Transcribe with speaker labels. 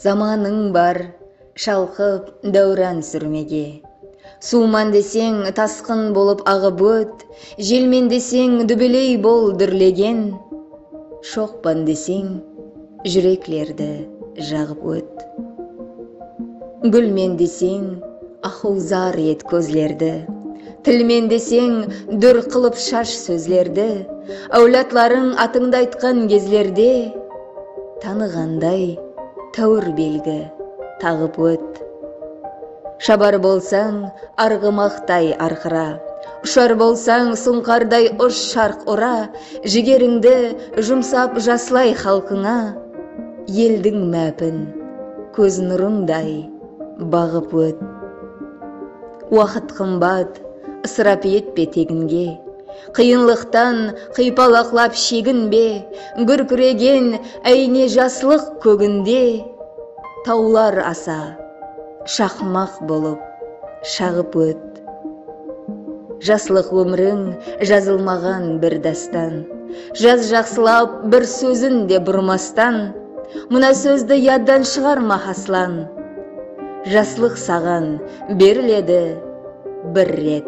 Speaker 1: Zamanıń bar, shalqıp, dáwran súrmege. Suwman deseń, tasqın bolıp aǵıp ót, Jelmen deseń, dúbeley bol dúrlegen. Shoqpan deseń. Júreklerdi jaǵıp ót. Gúlmen deseń, axuzar et kózlerdi, Tilmen deseń, dúr qılıp shash sózlerdi, Áwladlarıń atıńdı aytqan gezlerde, Tanıǵanday, táwir belgi taǵıp ót. Shabar bolsań, arǵımaqtay arqıra. Ushar bolsań suńqarday ush sharq ura, Jigerińdi jumsap jaslay xalqıńa, Eldiń mápin kóz nurıńday baǵıp ót. Waqıt qımbat, ısırap etpe teginge, Qıyınlıqtan qıypalaqlap sheginbe, Gúrkiregen áyne jaslıq kóginde, Tawlar asa shaqmaq bolıp shaǵıp ót. Jaslıq ómiriń jazılmaǵan bir dástan Jaz jaqsılap bir sózin de burmastan Mına sózdi yaddan shıǵarma haslan Jaslıq saǵan beriledi bir ret.